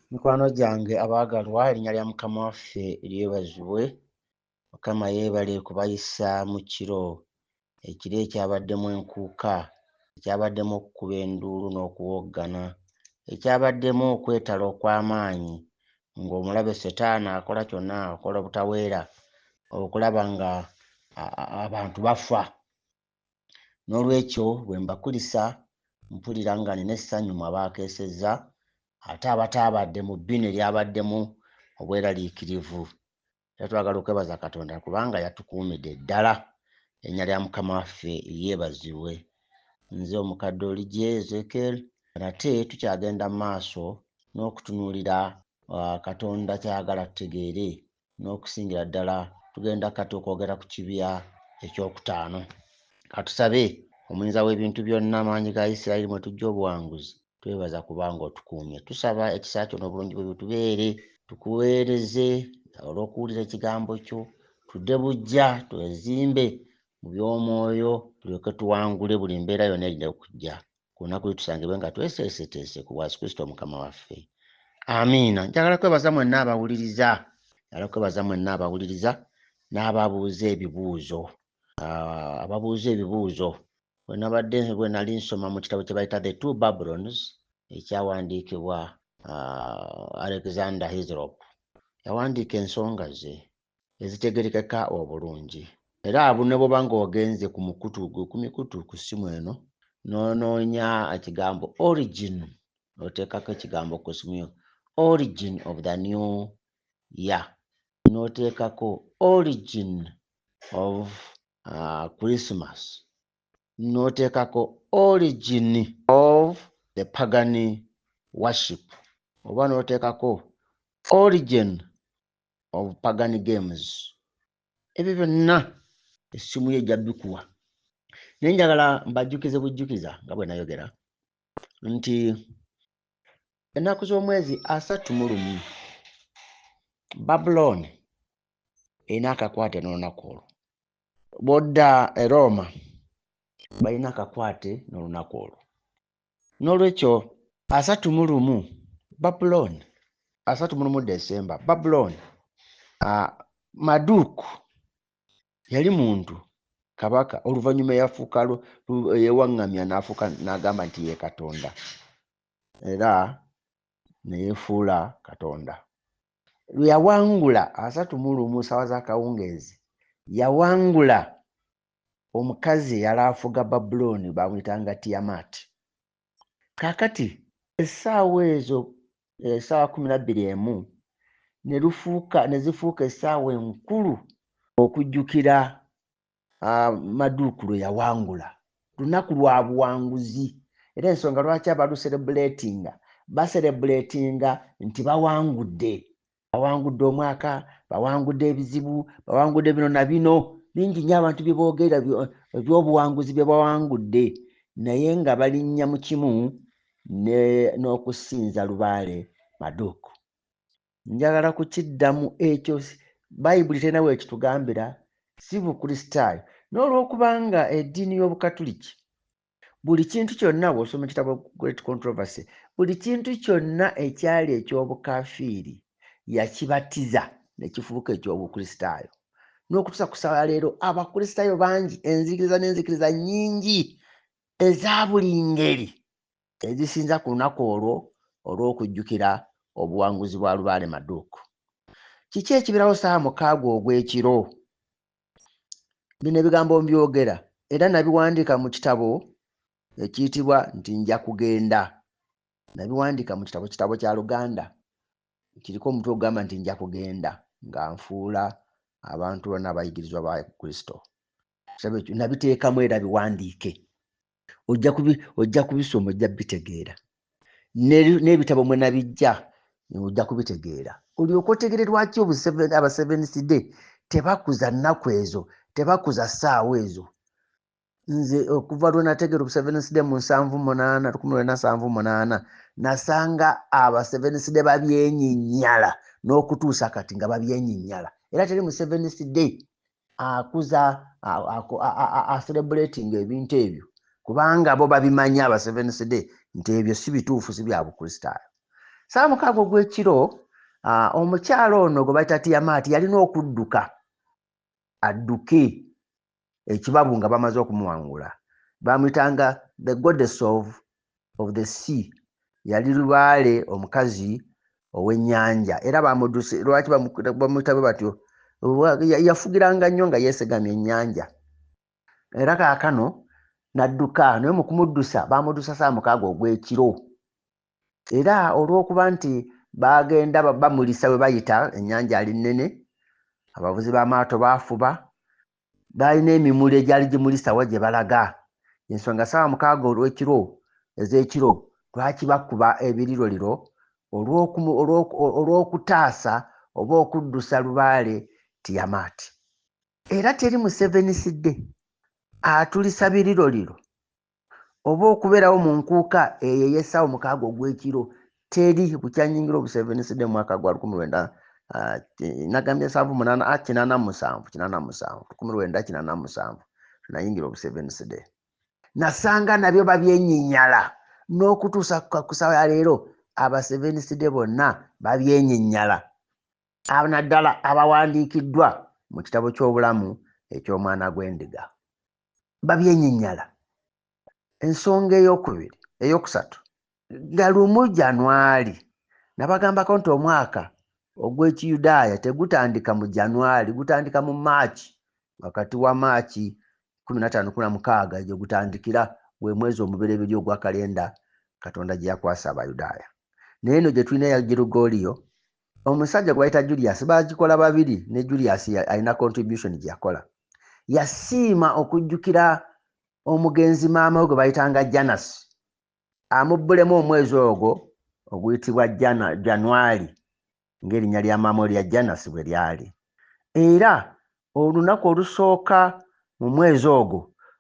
Mikwano gyange abaagalwa, erinnya lya Mukama waffe lyebazibwe. Mukama yeebale kubayisa mu kiro, ekiro ekyabaddemu enkuuka, ekyabaddemu okukuba enduulu n'okuwoggana, ekyabaddemu okwetala okw'amaanyi ng'omulabe Setaani akola kyonna, akola obutaweera okulaba ng'abantu bafa. N'olwekyo bwe mbakulisa mpulira nga nina essanyu mu abaakeesezza ate abataabadde mu bbinu eryabaddemu obweraliikirivu. Era twagala okwebaza Katonda kubanga yatukuumidde ddala. Erinnya lya Mukama waffe lyebazibwe. Nze omukadde Oligye Ezekiel. Nate tukyagenda mu maaso n'okutunuulira Katonda ky'ayagala tutegeere n'okusingira ddala tugenda kati okwogera ku kibya ekyokutaano katusabe omuyinza w'ebintu byonna amaanyi ga isirayiri mwe tujja obuwanguzi twebaza kubanga otukuumye tusaba ekisa kyo n'obulungi bwe bitubeere tukuweereze olw'okuwulira ekigambo kyo tudde bujja twezimbe mu by'omwoyo tulyoke tuwangule buli mbeera yonna erina okujja ku lunaku lwe tusangibwe nga tweseeseteese ku bwasi kristo mukama waffe amiina njagala kwebaza mwenna abawuliriza njagala kwebaza mwenna abawuliriza n'ababuuza ebibuuzo ah, ababuuza ebibuuzo wenabadde bwe nali nsoma mu kitabo kye bayita the two babylons ekyawandiikibwa ah, alexander hisrop yawandiika ensonga ze ezitegerekeka obulungi era abu ne bwoba ng'ogenze ku mukutu ku mikutu ku ssimu eno n'onoonya ekigambo origin oteekako ekigambo ku ssimu yo origin of the new year n'oteekako origin of uh, christmas n'oteekako origin of the pagan worship oba n'oteekako origin of pagan games ebyo byonna essimu ye ejja bikuwa naye njagala mbajjukize bujjukiza nga bwe nayogera nti ennaku z'omwezi asatu mu lumu babulooni erina akakwate n'olunaku olwo bwodda e rooma balina akakwate n'olunaku olwo N'olwekyo asatu mu lumu Babulooni, asatu mu lumu Desemba, Babulooni, ah, Maduku yali muntu kabaka oluvannyuma eyafuuka lu- lu- eyewaŋŋamya n'afuuka n'agamba nti ye katonda era ne yeefuula katonda lwe yawangula asatu mu lumu ssaawa z'akawungeezi yawangula omukazi eyali afuga babulooni baamuyitanga tiyamaati kaakati essaawa ezo essaawa kumi nabbiri emu ne lufuuka ne zifuuka essaawa enkulu okujjukira ah, maduuku lwe yawangula lunaku lwa buwanguzi era ensonga lwaki abaluserebuleetinga baserebuleetinga nti bawangudde bawangudde omwaka bawangudde ebizibu bawangudde bino na bino bingi nyo abantu byeboogera ebyobuwanguzi bye bawangudde naye nga balinnya mu kimu n'okusinza lubaale maduuku njagala kukiddamu ekyo bayibuli terina weekitugambira si bukristaayo n'olwokubanga eddiini y'obukatuliki buli kintu kyonna bw'osoma ekitabo great controversy buli kintu kyonna ekyali eky'obukafiiri yakibatiza ne kifuuka eky'obukristaayo n'okutuusa ku sala leero abakristaayo bangi enzikiriza n'enzikiriza nnyingi eza buli ngeri ezisinza ku lunaku olwo olw'okujjukira obuwanguzi bwa lubaale maduuku kiki ekibeerawo saawa mukaaga ogw'ekiro bino ebigambo mbyogera era nabiwandiika mu kitabo ekiyitibwa nti nja kugenda nabiwandiika mu kitabo kitabo kya luganda kiriko omutwe ogugamba nti nja kugenda nga nfuula abantu bona abayigirizwa ba kristo nabiteekamu era biwandiike ojja kubi ojja kubisoma ojja bitegeera n'ebitabo mwe nabijja ojja kubitegeera olyoka otegere lwaki aba seventh day tebakuza nnaku ezo tebakuza ssaawa ezo nze okuva lwe nategeera obu seventh day mu nsanvu munaana lukumi lwena nsanvu munaana nasanga aba seventh day babyenyinyala n'okutuusa kati nga babyenyinyala era teri mu seventh day akuza aserebulatinga ebintu ebyo kubanga bo babimanyi aba seventh day nti ebyo si bituufu si bya bukristaayo saamukaaga ogw'ekiro omukyalo ono gwe bayita tiyamaati yalina okudduka adduke ekibabu nga bamaze okumuwangula bamuyitanga the goddess of of the sea yali lubaale omukazi ow'ennyanja era bamuduse lwaki bamutabe batyo yafugiranga nnyo nga yeesegamya ennyanja era kaakano n'adduka naye mu kumuddusa bamuddusa saa mukaaga ogw'ekiro era olw'okuba nti bagenda bamulisa bwe bayita ennyanja ali nnene abavuzi b'amaato baafuba baalina emimuli egyali gimulisa wa gye balaga ensonga saawa mukaaga olw'ekiro ez'ekiro lwaki bakuba ebiriroliro olw'okutaasa oba okuddusa lubaale tiyamaati era teri musevenisi dde atulisa biriroliro oba okubeerawo mu nkuuka eyo ey'essaawa omukaaga ogw'ekiro teri bukyanyingira obuseeveniside mu mwaka gwa lukumi lwenda ah, nagambye nsanvu munaana ah, kinaana musanvu kinaana musanvu lukumi lwenda kinaana musanvu nayingira obuseeveniside nasanga nabyo babyenyinyala n'okutuusa ku ssaawa ya leero abaseeveniside bonna babyenyinyala naddala abawandiikiddwa mu kitabo ky'obulamu eky'omwana gw'endiga babyenyinyala ensonga eyokubiri eyokusatu nga lumu janwali nabagambako nti omwaka ogwekiyudaaya tegutandika mu janwali gutandika mu maaki wakati wa maaki 1516 gyegutandikira gwe mwezi omubereberye ogwa kalenda katonda gyeyakwasa abayudaaya naye eno gyetulina eya girugoliyo omusajja gwe bayita julius bagikola babiri ne julius alina contribution gye yakola yasiima okujjukira omugenzi maama we gwe bayitanga janas amubbulemu omwezi ogwo oguyitibwa januari ng'erinnya lya maama erya janas bwe lyali era olunaku olusooka mu mwezi ogwo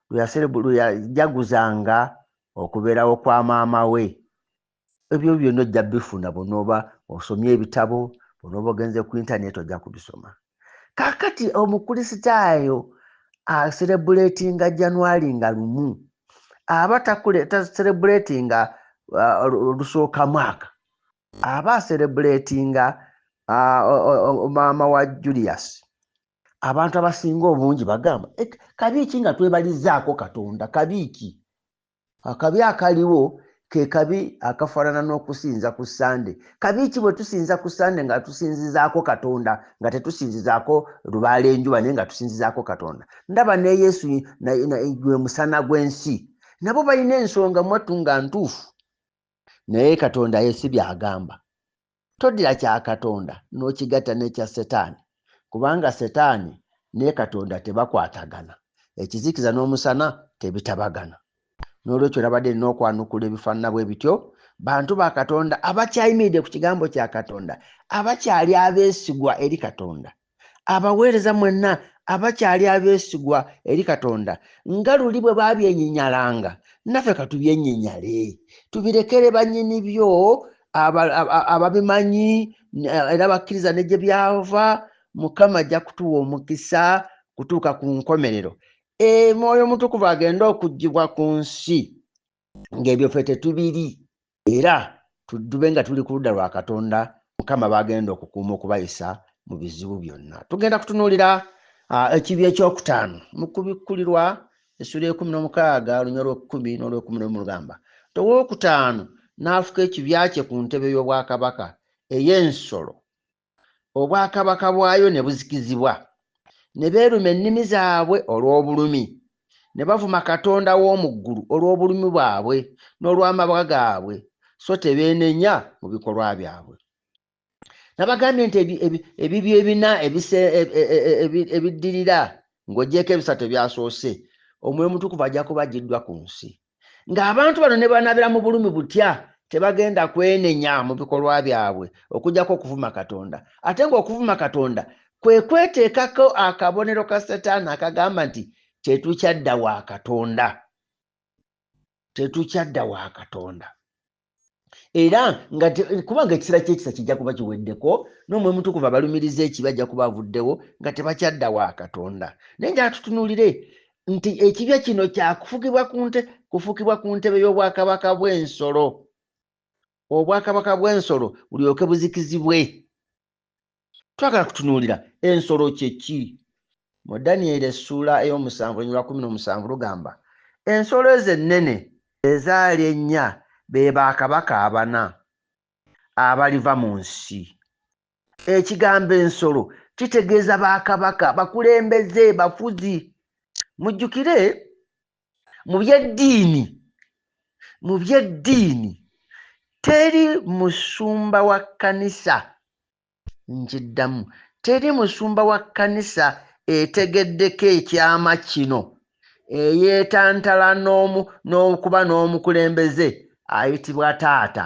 lweyajaguzanga okubeerawo kwa maama we ebyo byonna ojja bifuna bwonooba osomye ebitabo bwonooba ogenze ku intaneti ojja kubisoma kakati omukulisitaayo aserebuletinga januari nga lumu aba taserebuletinga uh, olusooka mwaka aba aserebuletinga uh, maama wa julius abantu abasinga obungi bagamba kabiiki nga twebalizaako katonda kabiiki akabi akaliwo ke kabi akafaanana n'okusinza ku ssande kabi ki bwe tusinza ku ssande nga tusinzizaako katonda nga tetusinzizaako lubaala enjuba naye nga tusinzizaako katonda ndaba ne yesu gwe musana gw'ensi nabo balina ensonga mwattu nga ntuufu naye katonda yesi byagamba Toddira kya Katonda n'okigatta n'ekya Setaani, kubanga Setaani ne Katonda tebakwatagana, ekizikiza n'omusana tebitabagana. N'olwekyo nabadde nina okwanukula ebifaanana bwe bityo, bantu ba Katonda abakyayimiridde ku Kigambo kya Katonda, abakyali abeesigwa eri Katonda. abaweereza mwenna abakyali abeesigwa eri katonda nga luli bwe baabyenyinyalanga naffe katubyenyinyale tubirekere bannyini byo ababimanyi era bakkiriza ne gye byava mukama ajja kutuwa omukisa kutuuka ku nkomerero e, mwoyo mutukuvu agenda okugjibwa ku nsi ng'ebyo ffe tetubiri era tudube nga tuli ku ludda lwa katonda mukama bagenda okukuuma okubayisa mu bizibu byonna tugenda kutunuulira ekibi ekyokutaano mu kubikkulirwa essula ekumi n'omukaaga olunya olwekumi n'olwekumi nomu lugamba towookutaano n'afuka ekibya kye ku ntebe y'obwakabaka ey'ensolo obwakabaka bwayo ne buzikizibwa, ne beeruma ennimi zaabwe olw'obulumi, ne bavuma Katonda w'omu ggulu olw'obulumi bwabwe n'olw'amabwa gaabwe, so tebeenenya mu bikolwa byabwe. Nabagambye nti ebibyo ebina e, e, ebiddirira ng'ogyeko ebisatu ebyasoose, Omwoyo Mutukuvu ajja kuba agiddwa ku nsi. ng'abantu bano ne banaabira mu bulumi butya tebagenda kwenenya mu bikolwa byabwe okujjako okuvuma katonda ate ng'okuvuma katonda kwe kweteekako akabonero ka setaani akagamba nti tetukyadda wa katonda tetukyadda wa katonda era nga kubanga ekisera kyekisa kijja kuba kiweddeko n'omwoyo mutukuvu abalumiriza ekibi ajja kuba avuddewo nga tebakyadda wa katonda naye njala tutunulire nti ekibya kino kyakufugibwa ku nte kufukibwa ku ntebe y'obwakabaka bw'ensolo obwakabaka bw'ensolo bulyoke buzikizibwe twagala kutunuulira ensolo kyeki mu daniel essuula ey'omusanvu olunyuma kumi n'omusanvu lugamba ensolo ezo ennene ezaali ennya be bakabaka abana abaliva mu nsi ekigambo ensolo kitegeeza bakabaka bakulembeze bafuzi mujjukire mu byeddiini mu byeddiini teri musumba wa kkanisa nkiddamu teri musumba wa kkanisa etegeddeko ekyama kino eyeetantala n'omu n'okuba n'omukulembeze ayitibwa taata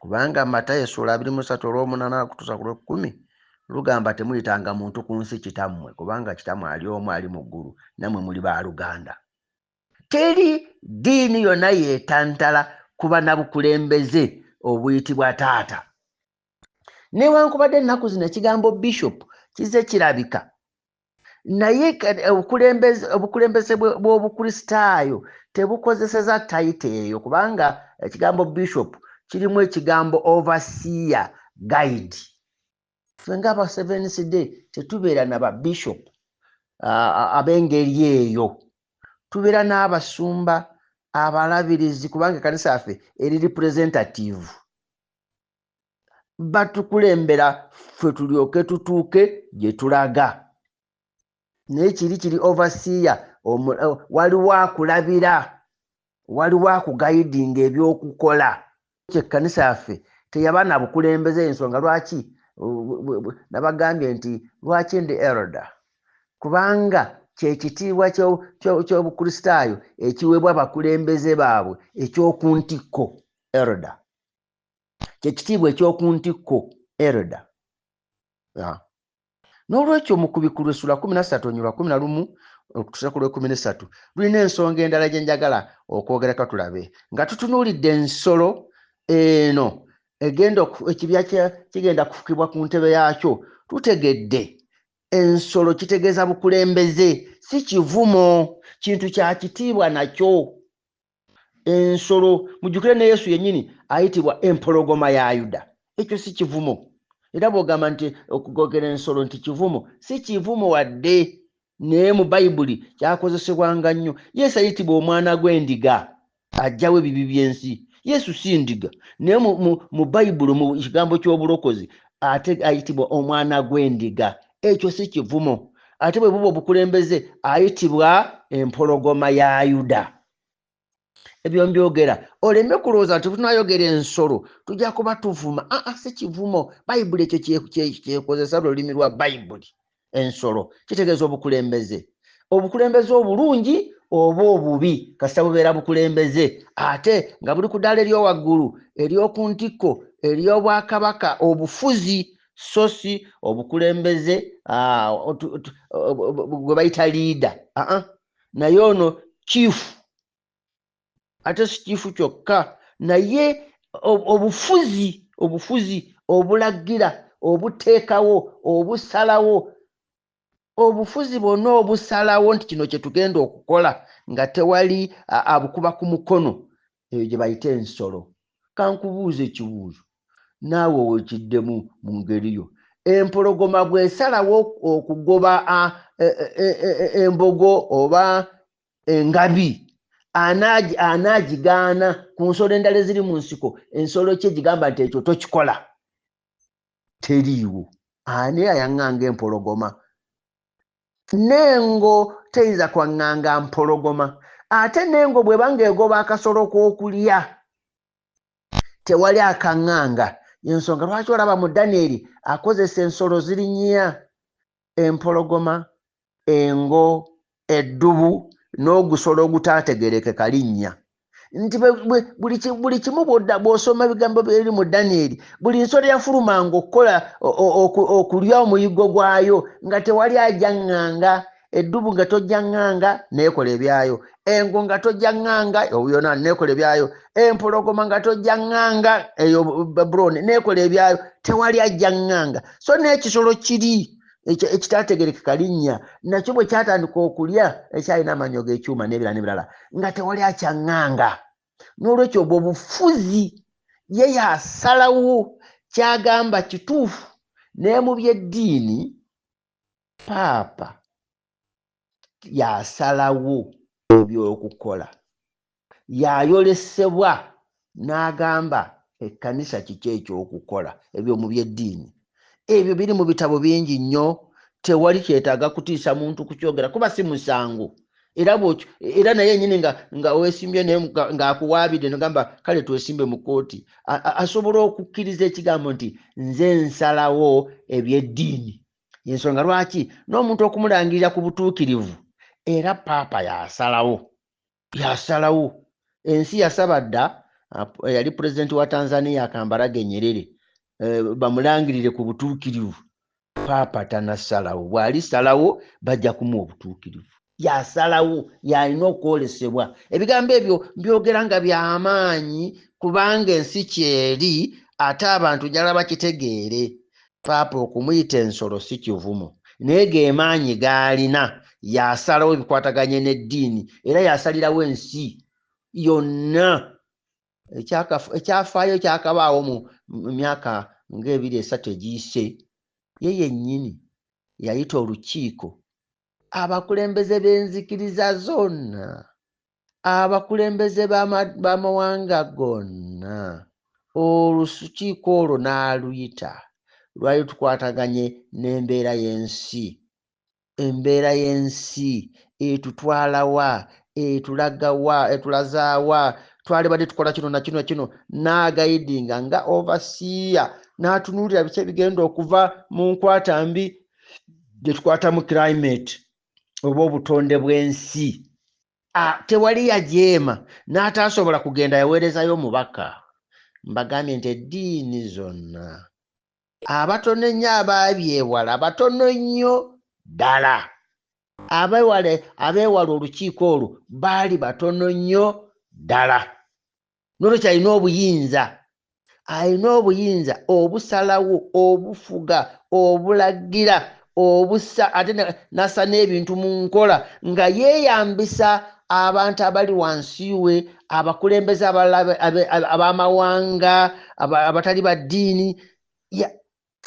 kubanga matayo essula abiri musatu olwomunaana akutusa ku lwekkumi lugamba temuyitanga muntu ku nsi kitammwe kubanga kitammwe ali omu ali mu ggulu nammwe muli ba luganda teri ddiini yonna yetantala kuba na bukulembeze obuyitibwa taata newankubadde ennaku zino ekigambo bishop kize kirabika naye eh, obukulembeze bw'obukristaayo tebukozeseza tayita eyo kubanga ekigambo bishop kirimu ekigambo overseer guide fe nga aba sevens day tetubeera na babishop ab'engeri eyo tubeera n'abasumba abalabirizi kubanga ekanisa yaffe eri representative batukulembera ffe tulyoke tutuuke gye tulaga naye kiri kiri overseer eh, waliwo akulabira waliwo akugayidinga ebyokukola kyekkanisa yaffe teyaba na bukulembeze ensonga lwaki nabagambye nti lwaki ndi elda kubanga kyekitiibwa kyobukristaayo ekiweebwa abakulembeze baabwe ekyokuntikko elda kyekitiibwa ekyoku ntikko erda n'olwekyo mu kubikulu essula kumi nassatu onyulwa kumi na lumu okutusa ku lwekumi nesatu lulina ensonga endala gye njagala okwogerako tulabe nga tutunuulidde ensolo eno egenda ekibya kigenda kufukibwa ku ntebe yaakyo tutegedde ensolo kitegeeza bukulembeze si kivumo kintu kya kitiibwa nakyo ensolo mujjukire ne yesu yennyini ayitibwa empologoma ya yuda ekyo si kivumo era bwogamba nti okugogera ensolo nti kivumo si kivumo wadde naye mu bayibuli kyakozesebwanga nnyo yesu ayitibwa omwana gw'endiga ajjawo ebibi by'ensi yesu si ndiga naye mu bayibuli mu kigambo ky'obulokozi ate ayitibwa omwana gw'endiga ekyo si kivumo ate bwe buba obukulembeze ayitibwa empologoma ya yuda ebyo mbyogera oleme kulowooza nti tunayogera ensolo tujja kuba tuvuma aa ah, ah, si kivumo bayibuli ekyo kyekozesa lulimi lwa bayibuli ensolo kitegeeza obukulembeze obukulembeze obulungi oba obubi kasita bubeera bukulembeze ate nga buli ku ddaala eryowaggulu ery'oku ntikko ery'obwakabaka obufuzi so si obukulembeze ah, gwe bayita liida aa naye ono kiifu ate si kiifu kyokka naye obufuzi obufuzi obulagira obuteekawo obusalawo obufuzi bwonna obusalawo nti kino kye tugenda okukola nga tewali abukuba ku mukono eyo gye bayita ensolo kankubuuza ekibuuzo naawe wekiddemu mu ngeri yo empologoma bwesalawo okugoba e, e, e, embogo oba engabi anaagigaana ku nsolo endala eziri mu nsiko ensolo kye gigamba nti ekyo tokikola teriiwo ani ayaŋŋanga empologoma nengo teyinza kwaŋŋanga mpologoma ate nengo bwebanga egoba akasolo k'okulya tewali akaŋŋanga yensonga lwaki olaba mu danieri akozesa ensolo zirinyiya empologoma, engo, eddubu n'ogusolo ogutaategerekeka linnya nti buli kimu bwodda bw'osoma ebigambo byeri mu danyeri buli nsolo yafulumanga okukola okulya omuyiggo gwayo nga tewali ajaŋŋanga eddubu nga tojaŋŋanga neekola ebyayo engo nga tojja ŋŋanga yona nekola ebyayo empologoma nga tojja ŋŋanga eyo babuloni nekola ebyayo tewali ajja ŋŋanga so n'ekisolo kiri ekitategerekeka linnya nakyo bwe kyatandika okulya ekyalina amanyo g'ekyuma n'ebirala n'ebirala nga tewali akyaŋŋanga n'olwekyo obwo bufuzi ye yasalawo kyagamba kituufu naye mu by'eddiini paapa y'asalawo eby'okukola. Y'ayolesebwa n'agamba ekkanisa kiki eky'okukola. Ebyo mu by'eddiini ebyo biri mu bitabo bingi nnyo, tewali kyetaaga kutiisa muntu kukyogera kuba si musango. Era bw'otyo era naye yennyini nga nga weesimbye naye nga- ng'akuwaabidde nogamba kale twesimbe mu kkooti, a- a- asobola okukkiriza ekigambo nti nze nsalawo eby'eddiini. yensonga lwaki n'omuntu okumulangirira ku butuukirivu era paapa yasalawo yasalawo ensi yasaba dda eyali eh, pulezidenti wa tanzania kambarage nyerere eh, bamulangirire ku butuukirivu paapa tanasalawo bw'alisalawo bajja kumuwa obutuukirivu yasalawo yalina okwolesebwa ebigambo ebyo mbyogera nga byamaanyi kubanga ensi kyeri ate abantu njala bakitegeere paapa okumuyita ensolo si kivumo naye gemaanyi gaalina yasalawo ebikwataganye n'eddiini era yasalirawo ensi yonna ekyafaayo kyakabaawo mu myaka ng'ebiri esatu egiyise ye yennyini yayita olukiiko abakulembeze b'enzikiriza zonna abakulembeze b'amawanga gonna olukiiko olwo n'aluyita lwali tukwataganye n'embeera y'ensi embeera y'ensi etutwalawa etulagawa etulazaawa twalibadde tukola kino nakino kino n'agayidinga nga ovasiiya n'atunuulira biki ebigenda okuva mu nkwata mbi gyetukwata mu climate oba obutonde bw'ensi tewali yajeema n'ataasobola kugenda yaweerezayo omubaka mbagambye nti eddiini zonna abatono ennyo abaabyewala batono nnyo ddala abewale abeewala olukiiko olwo baali batono nnyo ddala nolwekyo alina obuyinza alina obuyinza obusalawo obufuga obulagira obusa ate nasa n'ebintu mu nkola nga yeeyambisa abantu abali wansi we abakulembeze abalala ab'amawanga abatali ba ddiini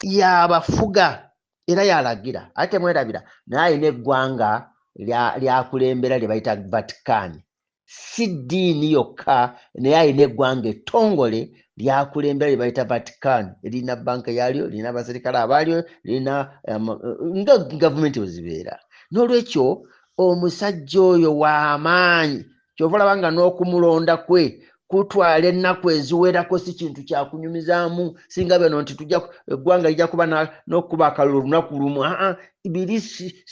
yabafuga era yalagira ate temwerabira naye alina eggwanga lyakulembera lya lye bayita vatican si ddiini yokka naye alina eggwanga ettongole lyakulembera lye bayita vatican lirina banka yaalyo lirina abaserikale abaalyo lirina um, nga gavumenti wezibeera n'olwekyo omusajja oyo w'amaanyi kyova olaba nga n'okumulonda kwe kutwala ennaku eziwerako si kintu kyakunyumizaamu singa beno nti tuja eggwanga lija kuba n'okukuba akalulu olunaku lumu aa biri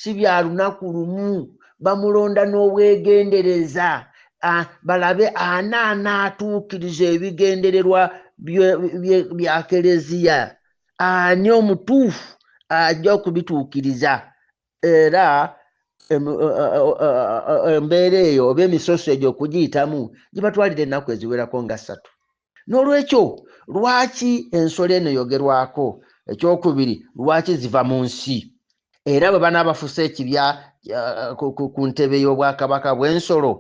si bya lunaku lumu bamulonda n'obwegendereza balabe ani anaatuukiriza ebigendererwa bya keleziya ani omutuufu ajja okubituukiriza era e, e, embeera eyo oba emisoso egyo okugiyitamu gibatwalira ennaku eziwerako nga ssatu n'olwekyo lwaki ensolo eno yogerwako ekyokubiri lwaki ziva mu nsi era bwe banaabafusa ekibya ku ntebe y'obwakabaka bw'ensolo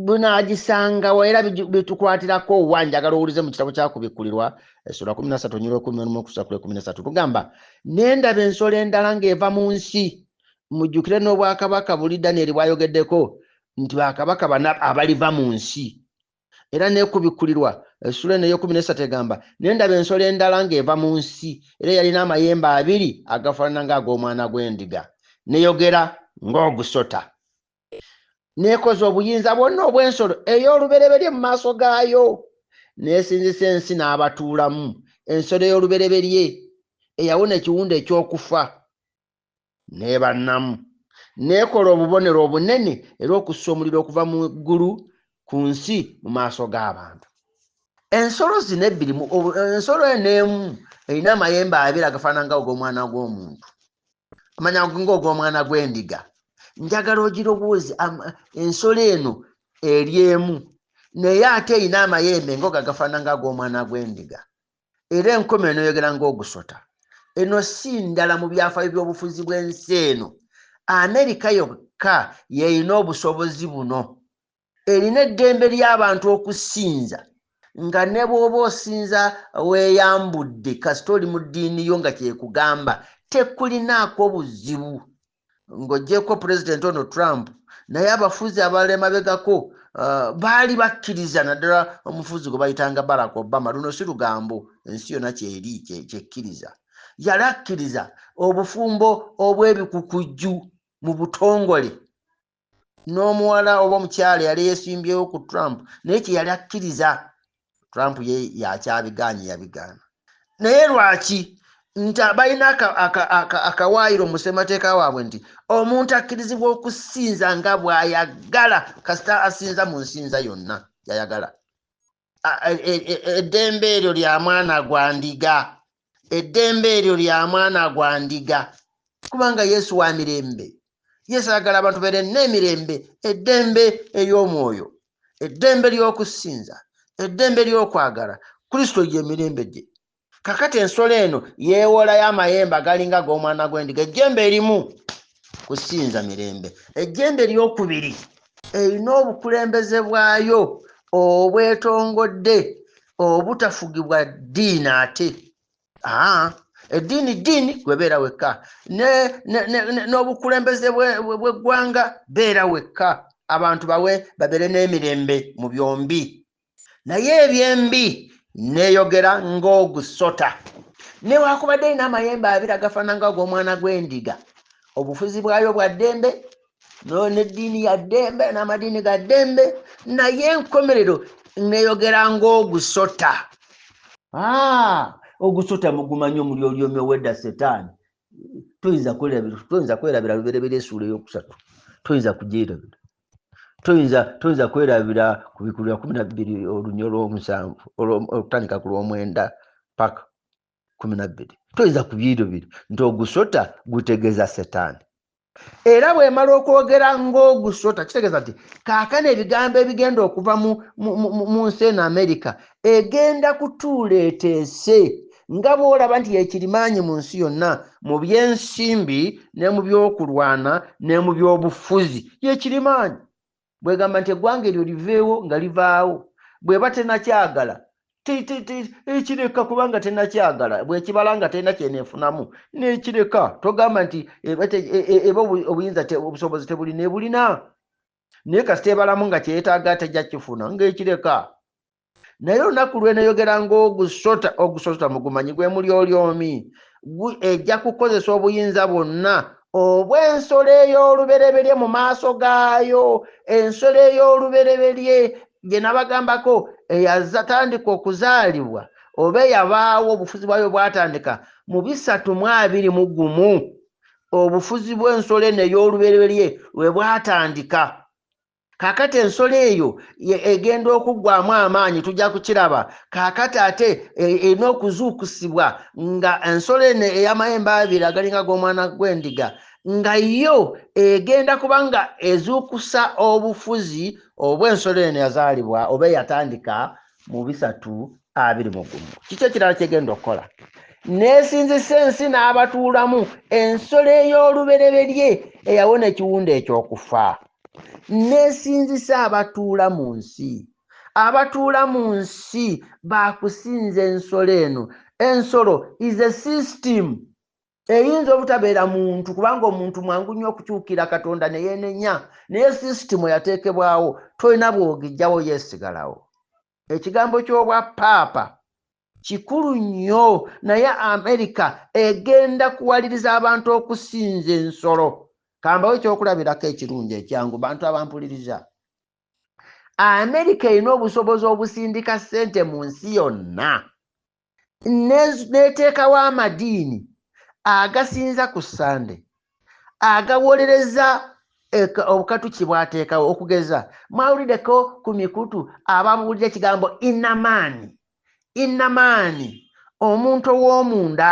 bunaagisangawo era bitukwatirako wa njagala owulize mu kitabo kyakubikkulirwa essula kumi na satu nyirwa ekumi olumu okusa kula ekumi na satu lugamba nendaba ensolo endala ng'eva mu nsi mujjukire n'obwakabaka buli danieri bwayogeddeko nti bakabaka bana abaliva mu nsi era nekubikkulirwa essula eno eyekumi nesatu egamba nendaba ensolo endala ng'eva mu nsi era yalina amayembe abiri agafaanana ng'ag'omwana gw'endiga neyogera ng'ogusota n'ekoza obuyinza bwonna obw'ensolo ey'olubereberye mu maaso gaayo n'esinzisa ensi n'abatuulamu ensolo ey'olubereberye eyawona ekiwundu eky'okufa n'ebannamu n'ekola obubonero obunene era okussa omuliro okuva mu ggulu ku nsi mu maaso g'abantu ensolo zino ebbiri ensolo eno emu erina amayembe abiri agafaanana nga og'omwana gw'omuntu manya ng'ogw'omwana gw'endiga njagala ogirowoozi ensolo eno eri emu naye ate erina amayembe ngoga gafaana nga ag'omwana gw'endiga era enkoma eno yogera ng'ogusota eno si ndala mu byafaayo by'obufuzi bw'ensi eno amerika yokka yeerina obusobozi buno erina eddembe ly'abantu okusinza nga ne bw'oba osinza weeyambudde kasita oli mu ddiini yo nga kyekugamba tekulinaako buzibu ng'ogyeko pulezidenti ono Trump naye abafuzi abalala emabegako uh, baali bakkiriza naddala omufuzi gwe bayitanga Barack Obama luno si lugambo ensi yonna kyeri kyekkiriza yali akkiriza obufumbo obw'ebikukujju mu butongole n'omuwala oba omukyala yali yesimbyewo ku trump naye kyeyali akkiriza trump ye yakyabigaanye yabigaana naye lwaki nti balina akawaayiro mu ssemateeka waabwe nti omuntu akkirizibwa okusinza nga bw'ayagala kasita asinza mu nsinza yonna gyayagala eddembe eryo lya mwana gwa ndiga eddembe eryo lya mwana gwa ndiga kubanga yesu wa mirembe yesu ayagala abantu beere n'emirembe eddembe ey'omwoyo eddembe ly'okusinza eddembe ly'okwagala kristo gye mirembe gye kakati ensolo eno yeewolayo amayembe agalinga ag'omwana gw'endiga ejjembe erimu kusinza mirembe ejjembe eryokubiri erina obukulembeze bwayo obwetongodde obutafugibwa ddiini ate aa eddiini ddiini gwebeera wekka n'obukulembeze bweggwanga beera wekka abantu bawe babeere n'emirembe mu byombi naye ebyembi neyogera ng'ogusota newakubadde erina amayembe abiri agafaana nga ag'omwana gw'endiga obufuzi bwayo bwa ddembe n'eddiini ya ddembe n'amadiini ga ddembe naye enkomerero neyogera ng'ogusota ah, ogusota mugumanyi omuli olyomi owedda setaani toyinza kwerabira luberebera esuula eyokusatu toyinza kugirabira toyinza toyinza kwerabira ku bikulu bya kumi na bbiri olunya olwomusanvu okutandika ku lwomwenda paka kumi na bbiri toyinza ku byiiro biri nti ogusota gutegeeza setaani era bwemala okwogera ngaogusota kitegeeza nti kaakano ebigambo ebigenda okuva mu nsi eno amerika egenda kutuula eteese nga bw'olaba nti yekirimaanyi mu nsi yonna mu by'ensimbi ne mu by'okulwana ne mu by'obufuzi yekirimaanyi bwegamba nti eggwanga eryo liveewo nga livaawo bweba tenakyagala ekireka kubanga tenakyagala bwekibala nga terina kyenefunamu nekireka togamba nti eba e, e, e, obuyinza obusobozi tebuli nebulina naye kasita ebalamu nga kyeyetaaga tejja kifuna ngaekireka naye olunaku lweneyogera ng'ogusota ogusota mugumanyi gwe muli olyomi ejja kukozesa obuyinza bwonna obw'ensolo ey'olubereberye mu maaso gaayo ensolo ey'olubereberye gye nabagambako eyazatandika okuzaalibwa oba eyabaawo obufuzi bwayo bwatandika mu bisatu mu abiri mu gumu obufuzi bw'ensolo eno ey'olubereberye lwe bwatandika kakati ensolo eyo egenda okuggwamu amaanyi tujja kukiraba kakati ate e, erina okuzuukusibwa nga ensolo eno ey'amayembe abiri agalinga g'omwana gw'endiga nga yo egenda kuba nga ezuukusa obufuzi obw'ensolo eno yazaalibwa oba eyatandika mu bisatu abiri mu gumu kiki ekirala kyegenda okukola nesinzisa ensi n'abatuulamu ensolo ey'olubereberye eyawona ekiwunda ekyokufa nesinzisa abatuula mu nsi abatuula mu nsi bakusinza ensolo eno ensolo is a system eyinza obutabeera muntu kubanga omuntu mwangu nnyo okukyukira katonda ne yeenenya naye sisitimu eyateekebwawo tolina bwogijjawo yeesigalawo ekigambo ky'obwa paapa kikulu nnyo naye amerika egenda kuwaliriza abantu okusinza ensolo kambawo ekyokulabirako ekirungi ekyangu bantu abampuliriza amerika erina obusobozi obusindika ssente mu nsi yonna n'eteekawo amadiini agasinza ku ssande agawolereza obukatukyi bwateekawo okugeza mwawuliddeko ku mikutu ababuulira ekigambo inamaani inamaani omuntu ow'omunda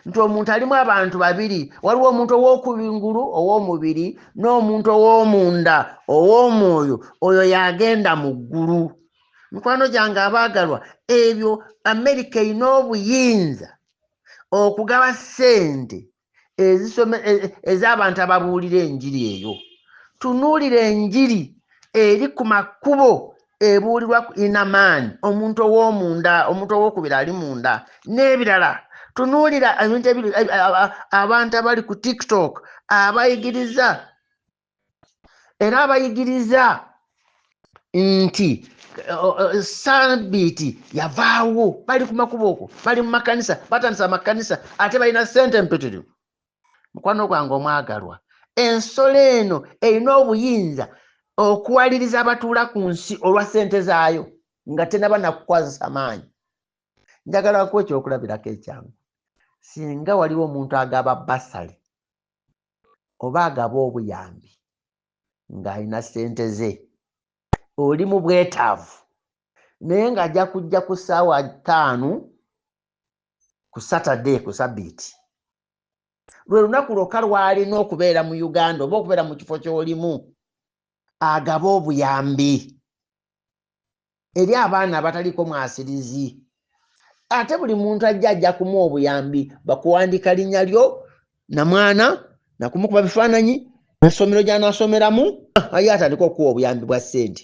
nti omuntu alimu abantu babiri waliwo omuntu ow'okubingulu ow'omubiri n'omuntu ow'omunda ow'omwoyo oyo yagenda mu ggulu mikwano gyange abaagalwa ebyo amerika erina obuyinza okugaba ssente e, e, ez'abantu ababuulira enjiri eyo tunuulira enjiri eri ku makubo ebuulirwa ku inamaani omuntu ow'omunda omuntu ow'okubiri ali munda n'ebirala tunuulira ebintu abantu abali ku tiktok abayigiriza era abayigiriza nti sabiiti yavaawo bali ku makubo okwo bali mu makanisa batandisa amakanisa ate balina sente mpitirivu mukwano gwange omwagalwa ensolo eno erina obuyinza okuwaliriza abatuula ku nsi olwa sente zaayo nga tenaba nakukwazisa maanyi njagala kuwa ekyokulabirako ekyangu singa waliwo omuntu agaba basale oba agaba obuyambi ng'alina ssente ze oli mu bwetaavu naye ng'ajja kujja ku ssaawa ttaano ku saturday ku sabbiiti lwe lunaku lwokka lw'alina okubeera mu uganda oba okubeera mu kifo ky'olimu agaba obuyambi eri abaana abataliko mwasirizi ate buli muntu ajja ajja kumu obuyambi bakuwandika linnya lyo namwana nakumukuba bifaananyi nasomero gyanasomeramu aye atandika okuwa obuyambi bwa ssente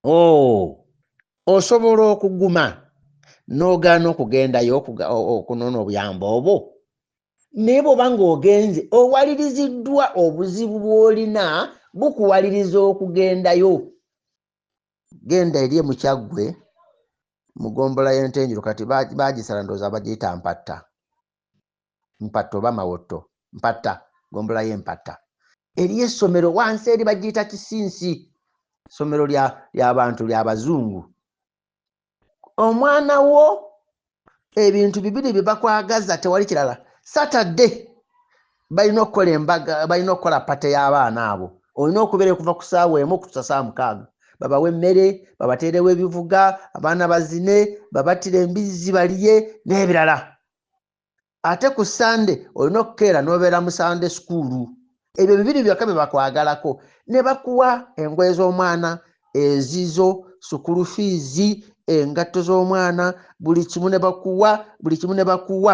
o oh, osobola okuguma n'ogaana okugendayo okunoona obuyambi obwo naye bwoba ng'ogenze owaliriziddwa obuzibu bw'olina bukuwaliriza okugendayo genda eri emukyaggwe mugombola yentenjiro kati bagisala ndooza bagiyita mpatta mpatta oba mawotto mpatta gombola yempatta eri essomero wansi eri bagiyita kisinsi somero lyabantu lyabazungu omwana wo ebintu bibiri bye bakwagaza tewali kirala satadde balina okukola embaga balina okukola pate y'abaana abo olina okubeera okuva ku saawa emu okutusa saa mukaaga babawe emmere babateerewo ebivuga abaana bazine babattire embizzi baliye n'ebirala ate ku sande olina okukeera n'obeera mu sande sukuulu ebyo bibiri byokka bye bakwagalako ne bakuwa engoye z'omwana ezizo sukulu fiizi engatto z'omwana buli kimu ne bakuwa buli kimu ne bakuwa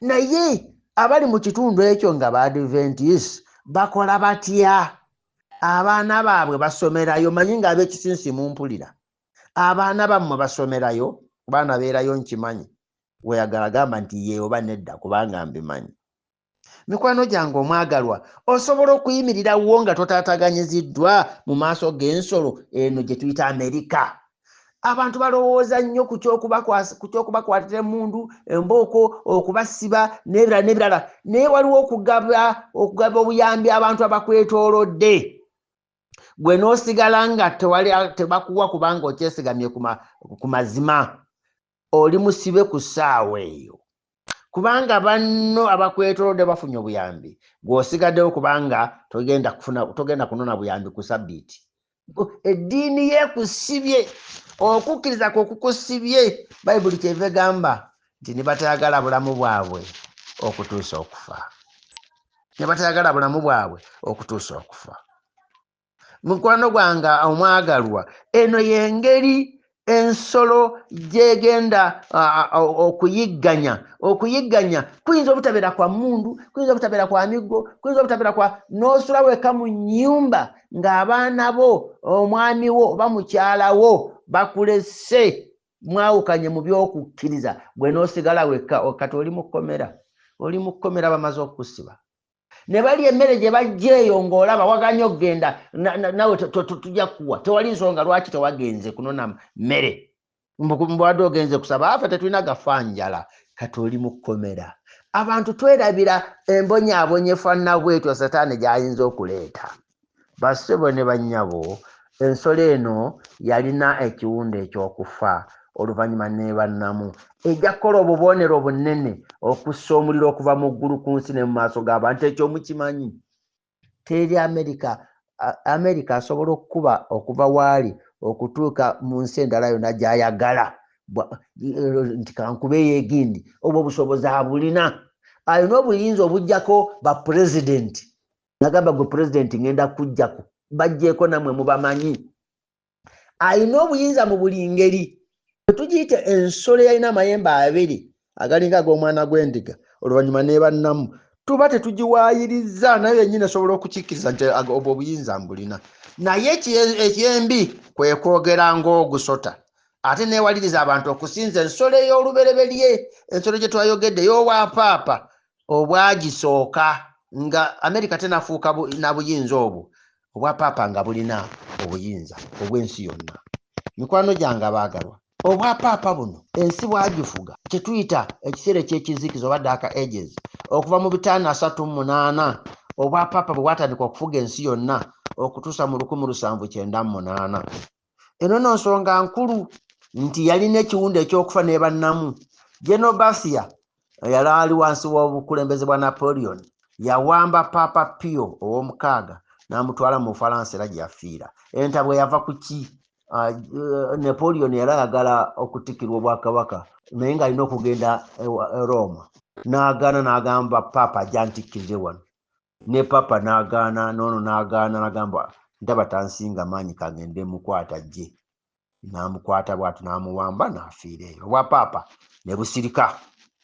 naye abali mu kitundu ekyo nga baadventis bakola batya abaana baabwe basomerayo manyi ng'abekisinsi mumpulira abaana bammwe basomerayo baana beerayo nkimanyi weyagala gamba nti yee oba nedda kubanga mbimanyi mikwano gyange omwagalwa osobola okuyimirira wo nga totaataganyiziddwa mu maaso g'ensolo eno gye tuyita amerika abantu balowooza nnyo ku kyokubakwatira emundu embooko okubasiba n'ebirala n'ebirala naye waliwo okugaba okugaba obuyambi abantu abakwetoolodde gwe n'osigala nga tebakuwa kubanga okyesigamye ku mazima oli musibe ku ssaawa eyo kubanga banno abakwetolodde bafunye obuyambi gw'osigaddewo kubanga togenda kufuna togenda kunona buyambi ku sabbiiti eddiini ye kusibye okukkiriza kwe kukusibye bayibuli kyeva egamba nti ne batayagala bulamu bwabwe okutuusa okufa ne batayagala bulamu bwabwe okutuusa okufa mukwano gwange omwagalwa eno yengeri ensolo gyegenda okuyigganya okuyigganya kuyinza obutabeera kwa mundu kuyinza obutabeera kwa miggo kuyinza obutabeera kwa n'osula weka mu nyumba ng'abaana bo omwami wo oba mukyalawo bakulese mwawukanye mu byokukkiriza gwe n'osigala wekka kati oli mu kkomera oli mu kkomera bamaze okukusiba ne balya emmere gye bajja eyo ng'olaba waganya okugenda nawe tujja kukuwa tewali nsonga lwaki tewagenze kunona mmere mbwade ogenze kusaba afe tetulina gafa njala kati oli mu kkomera abantu twerabira embonyaabonyefanna bwetyo setaani gy'ayinza okuleeta Bassebo ne bannyabo, ensolo eno yalina ekiwundu eky'okufa, oluvannyuma n'eba nnamu. Ejja kukola obubonero obunene okussa omuliro okuva mu ggulu ku nsi ne mu maaso g'abantu. Ekyo mukimanyi? Teri Amerika, Amerika asobola okukuba okuva waali okutuuka mu nsi endala yonna gy'ayagala nti kankube yegindi. Obwo obusobozi abulina. Alina obuyinza obugyako bapulezidenti. nagamba gwe pulezidenti ngenda kujjaku bajjeeko namwe mubamanyi alina obuyinza mu buli ngeri etugiyite ensolo yalina amayembe abiri agalinga ag'omwana gw'endiga oluvannyuma nebannamu tuba tetugiwaayiriza naye yennyini esobola okukikkiriza nti obwo obuyinza mbulina naye ekyembi kwe kwogera ng'ogusota ate neewaliriza abantu okusinza ensolo ey'olubereberye ensolo gye twayogedde ey'obwapaapa obwagisooka nga amerika tenafuuka na buyinza obwo obwa paapa nga bulina obuyinza obw'ensi yonna mikwano gyange abaagalwa obwa paapa buno ensi bwagifuga kyetuyita ekiseera ekyekizikiza oba daaka ages okuva mu bitaano asatu mu munaana obwa paapa bwe bwatandika okufuga ensi yonna okutuusa mu lukumi lusanvu kyenda mu munaana eno no nsonga nkulu nti yalina ekiwundu ekyokufa nebannamu geno bathia yali ali wansi w'obukulembeze bwa napoleon yawamba papa pio ow'omukaaga n'amutwala mu bufalansa era gye yafiira entabwe yava ku ki ah, eh, napoleon yali ayagala okutikirwa obwakabaka naye ng'alina okugenda e roma n'agaana n'agamba papa ajantikkirire wano ne papa n'agaana noono n'agaana nagamba ndaba tansinga maanyi kagende mukwata jje n'amukwata bwati n'amuwamba n'afiira eyo obwa paapa ne busirika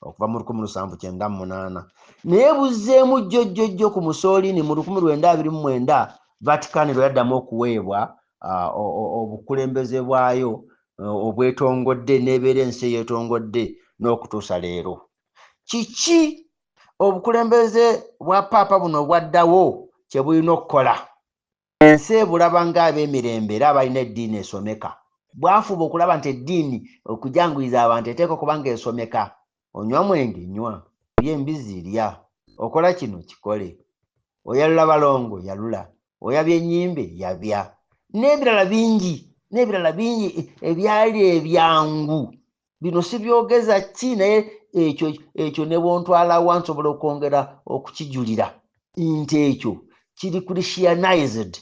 okuva mu lukumi lusanvu kyenda munaana naye buzzeemu jjo jjo jjo ku musoolini mu lukumi lwenda abiri mu mwenda vaticani lwe yaddamu okuweebwa ah, obukulembeze bwayo eh, obwetongodde n'ebeera ensi eyetongodde n'okutuusa leero kiki obukulembeze bwa paapa buno obwaddawo kye bulina okukola ensi ebulaba ng'ab'emirembe era abalina eddiini esomeka bwafuba okulaba nti eddiini okujanguyiza abantu eteeka okuba ng'esomeka onywa mwenge nywa olya embizzi lya okola kino kikole oyalula balongo yalula oyabya ennyimbe yabya n'ebirala bingi n'ebirala bingi ebyali ebyangu bino sibyogeza ki naye ekyo ekyo ne bwontwalawa nsobola okwongera okukijulira nti ekyo kiri christianized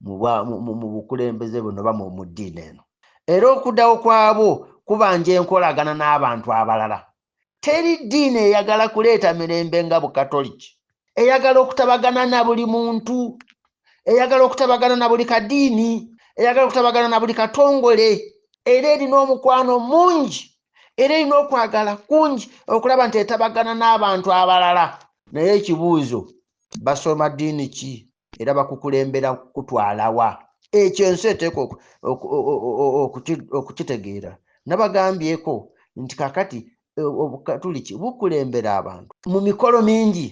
mu bukulembeze buno bamu mu ddiini eno era okudawo kwabwo kubanja enkolagana n'abantu abalala teri ddiini eyagala kuleeta mirembe nga bukatoliki eyagala okutabagana na buli muntu eyagala okutabagana na buli kadiini eyagala okutabagana na buli katongole era erina omukwano mungi era erina okwagala kungi okulaba nti etabagana n'abantu abalala naye ekibuuzo basoma ddiini ki era bakukulembera kukutwalawa ekyo ensi eteeka okukitegeera nabagambyeko nti kakati e, obukatuliki bukulembera abantu mu mikolo mingi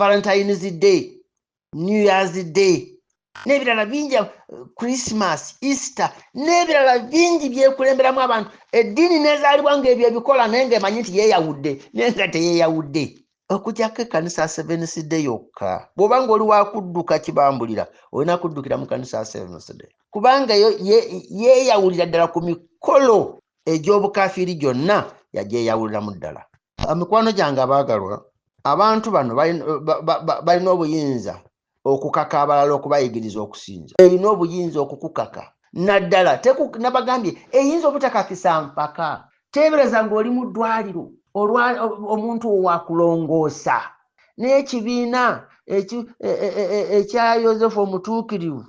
valentines day new years day n'ebirala bingi christmas easter n'ebirala bingi byekulemberamu abantu eddiini nezaalibwa ngaebyo ebikola naye ngaemanyi nti yeyawudde naye nga teyeyawudde okujako ekanisa ya seventh day yokka bwoba nga oli wakudduka kibambulira olina kuddukira mu kanisa ya seventh day kubanga yeyawulira ddala ku mikolo egy'obukafiiri gyonna yagyeyawuliramu ddala mikwano gyange abaagalwa abantu bano balina obuyinza okukaka abalala okubayigiriza okusinza erina obuyinza okukukaka naddala nabagambye eyinza obutakakisa mpaka teebereza ng'oli mu ddwaliro omuntu owakulongoosa n'ekibiina e, e, e, ekya yosefu omutuukirivu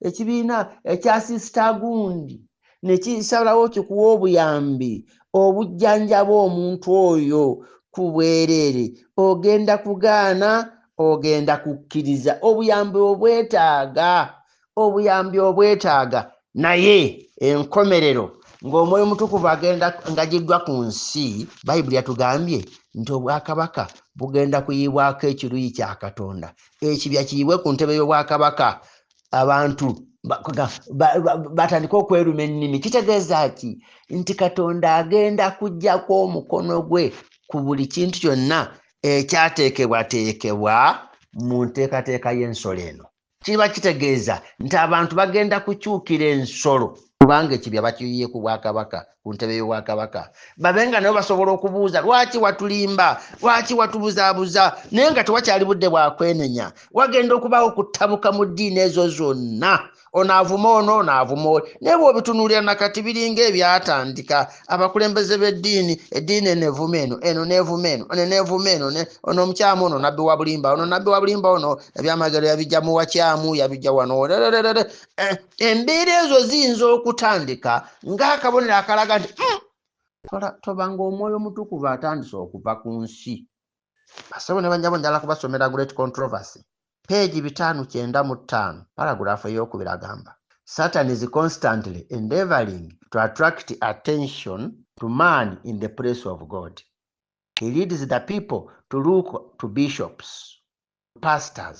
ekibiina ekya sisita gundi ne kisalawo kikuwa obuyambi obujjanjaba omuntu oyo ku bwereere ogenda kugaana ogenda kukkiriza obuyambi obwetaaga obuyambi obwetaaga naye enkomerero ng'omwoyo mutukuvu agenda ngagiddwa ku nsi bayibuli yatugambye nti obwakabaka bugenda kuyiibwako ekiruyi kya katonda ekibya kiyibwe ku ntebe y'obwakabaka abantu batandike okweruma ennimi kitegeeza ki nti katonda agenda kujjako omukono gwe ku buli kintu kyonna ekyateekebwateekebwa mu nteekateeka y'ensolo eno kiba kitegeeza nti abantu bagenda kukyukira ensolo kubanga ekibya bakiyiye ku bwakabaka ku ntebe y'obwakabaka babe nga nabo basobola okubuuza lwaki watulimba lwaki watubuzaabuza naye nga tewakyali budde bwakwenenya wagenda okubaawo okutabuka mu ddiini ezo zonna onaavuma ono onaavuma oli naye bwobitunuulira nakati biringa ebyatandika abakulembeze b'eddiini eddiini eno evuma eno eno neevuma eno one neevuma eno ono omukyamu ono nabbi wa bulimba ono nabbi wa bulimba ono ebyamagero yabijja mu wakyamu yabijja wano Eh, embeera ezo ziyinza okutandika ng'akabonero akalaga nti hmm, toba ng'omwoyo omutukuvu atandise okuva ku nsi basebo ne banyabo njala kubasomera great controversy peegi bitaano kyenda mu ttaano paraguraafu ey'okubiri agamba satan is constantly endeavoring to attract attention to man in the place of god he leads the people to look to bishops pastors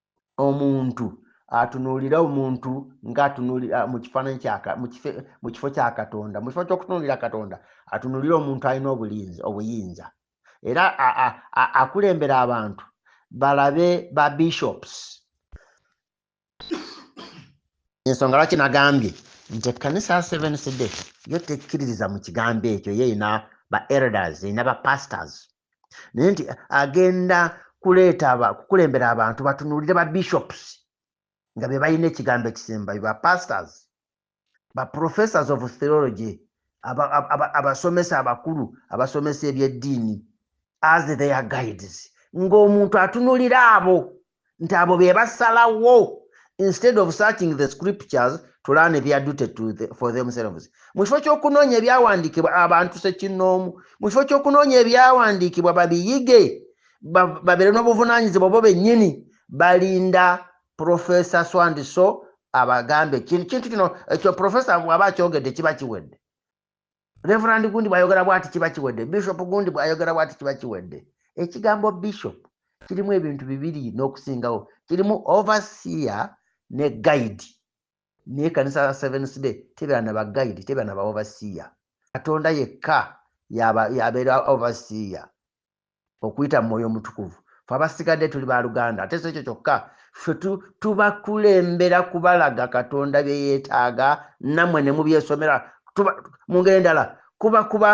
omuntu atunuulire omuntu ng'atunuulira ah, mu kifaananyi mu kifo kya katonda mu kifo ky'okutunuulira katonda atunuulire omuntu alina obulinzi obuyinza era akulembera abantu balabe ba bishops ensonga lwaki nagambye nti ekkanisa ya seven cd yo tekkiririza mu kigambo ekyo ye erina ba elders erina ba pastors naye nti agenda kuleeta kukulembera abantu batunuulire ba bishops nga be balina ekigambo ekisembayo ba pastors ba professors of theology abasomesa abakulu abasomesa ebyeddiini as their guides ng'omuntu atunulira abo nti abo be basalawo instead of searching the scriptures to learn their duty to the, for themselves mu kifo ky'okunoonya ebyawandiikibwa abantu sekinnoomu mu kifo ky'okunoonya ebyawandiikibwa babiyige babeere n'obuvunaanyizibwa bo bennyini balinda profesa swandiso abagambe kintu kino ekyo profesa bw'aba akyogedde kiba kiwedde reverand gundi bwayogera bwati kiba kiwedde bishop gundi bwayogera bwati kiba kiwedde ekigambo bishop kirimu ebintu bibiri n'okusingawo kirimu overseer ne guide naye kanisa ya sevens day tebera na baguide tebera na ba overseer katonda yekka yabeera overseer okuyita mu mwoyo omutukuvu fe abasigadde tuli baluganda ate sekyo kyokka fe tubakulembera kubalaga katonda byeyetaaga namwe nemubyesomera mu ngeri endala kuba kuba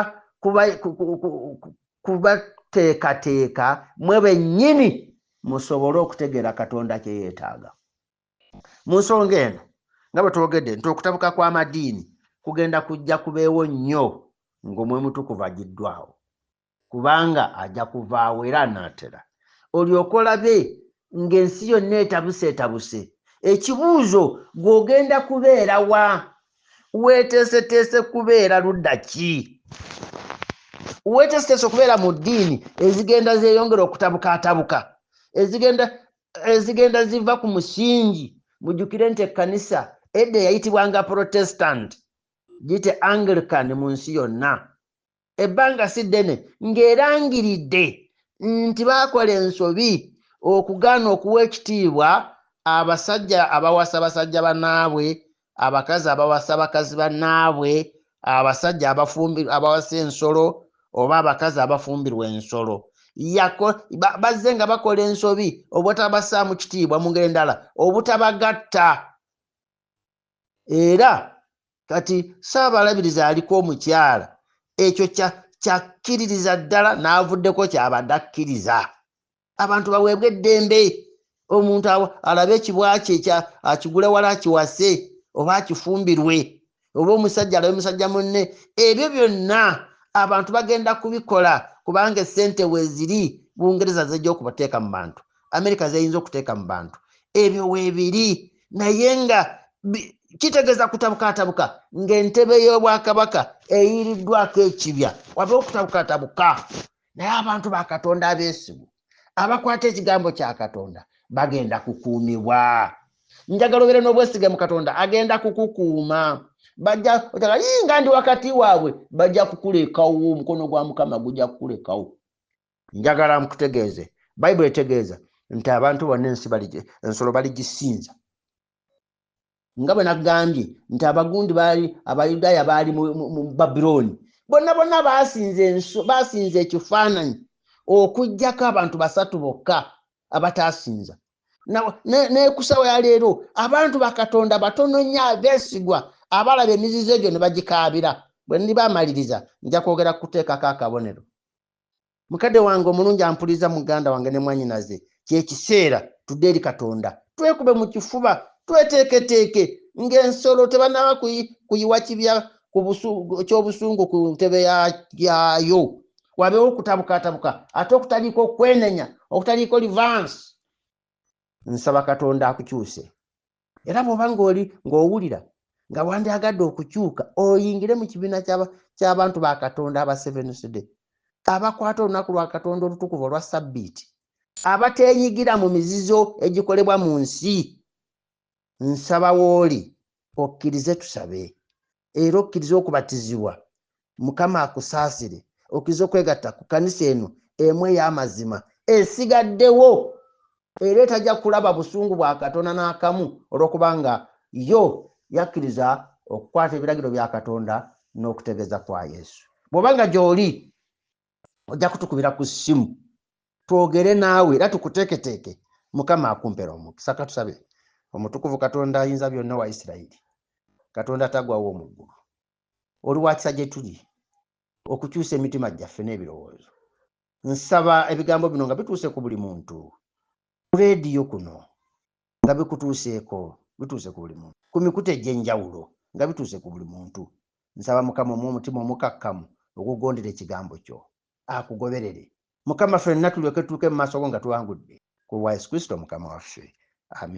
kubateekateeka mwe bennyini musobole okutegeera katonda kyeyetaaga mu nsonga eno nga bwe twogedde nti okutabuka kw'amadiini kugenda kujja kubeewo nnyo ng'omwemutukuvu agiddwawo kubanga aja kuvaawo era anaatera olyoke olabe ng'ensi yonna etabuse etabuse ekibuuzo gw'ogenda kubeera wa weeteeseteese kubeera ludda ki weeteeseteese okubeera mu ddiini ezigenda zeeyongera okutabuka atabuka ezigenda ezigenda ziva ku musingi mujjukire nti ekkanisa edda eyayitibwanga protestant gite anglican mu nsi yonna ebbanga si ddene ng'erangiridde nti baakola ensobi okugaana okuwa ekitiibwa abasajja abawasa basajja bannaabwe abakazi abawasa bakazi bannaabwe abasajja abafumbirwa abawasa ensolo oba abakazi abafumbirwa ensolo bazze nga bakola ensobi obutabassaamu kitiibwa mu ngeri endala obutabagatta era kati ssaabalabirizi aliko omukyala ekyo kyakkiririza ddala n'avuddeko kyabadde akkiriza abantu baweebwa eddembe omuntu alabe ekibwa kye akigule wala akiwase oba akifumbirwe oba omusajja alabe musajja munne ebyo byonna abantu bagenda kubikola kubanga esente weziri bungereza zejja okubateeka mu bantu amerika zeyinza okuteeka mu bantu ebyo webiri naye nga kitegeeza kutabukatabuka ng'entebe y'obwakabaka eyiriddwako ekibya waba okutabukatabuka naye abantu ba katonda abeesigu abakwata ekigambo kya katonda bagenda kukuumibwa njagala obeere n'obwesige mu katonda agenda kukukuuma bajja otaka yinga ndi wakati waabwe bajja kukulekawo omukono gwa mukama gujja kukulekawo njagala nkutegeeze bayibuli etegeeza nti abantu bonna ensi ensolo baligisinza nga bwe nagambye nti abagundi baali abayudaaya baali mu babilooni bonna bonna baasinza ekifaananyi okugyako abantu basatu bokka abataasinza nekusawa yaleero abantu bakatonda batono nnyo abeesigwa abalaba emizizo egyo ne bagikaabira bwe ndiba amaliriza nja kwogera kukuteekako akabonero mukadde wange omulungi ampuliza muganda wange ne mwanyinaze kyekiseera tudde eri katonda twekube mu kifuba tweteeketeeke ng'ensolo tebanaba kuyiwa kibya ky'obusungu ku ntebe yaayo wabeewo okutabukatabuka ate okutaliiko okwenenya okutaliiko livansi nsaba katonda akukyuse era bwoba ngaoli ngaowulira nga wandyagadde okukyuka oyingire mu kibiina ky'abantu ba katonda aba sevensday abakwata olunaku lwa katonda olutukuvu olwa sabbiiti abateenyigira mu mizizo egikolebwa mu nsi nsaba wooli okkirize tusabe era okkirize okubatizibwa mukama akusaasire okkirize okwegatta ku kanisa eno emu ey'amazima esigaddewo era etajja kulaba busungu bwa katonda n'akamu olw'okubanga yo yakkiriza okukwata ebiragiro bya katonda n'okutegeeza kwa yesu bw'oba nga gy'oli ojja kutukubira ku ssimu twogere naawe era tukuteeketeeke mukama akumpera omukisa katusabe omutukuvu katonda ayinza byonna wa isirayiri katonda tagwawo omuggulu oli wakisa gye tuli okukyusa emitima gyaffe n'ebirowoozo nsaba ebigambo bino nga bituuse ku buli muntu ku leediyo kuno nga bikutuuseeko bituuse ku buli muntu ku mikutu egy'enjawulo nga bituuse ku buli muntu nsaba mukama omu omutima omukakkamu ogugondera ekigambo kyo akugoberere mukama fenna tulyoke tutuuke mu maaso go nga tuwangudde ku lwa yesu kristo mukama waffe amin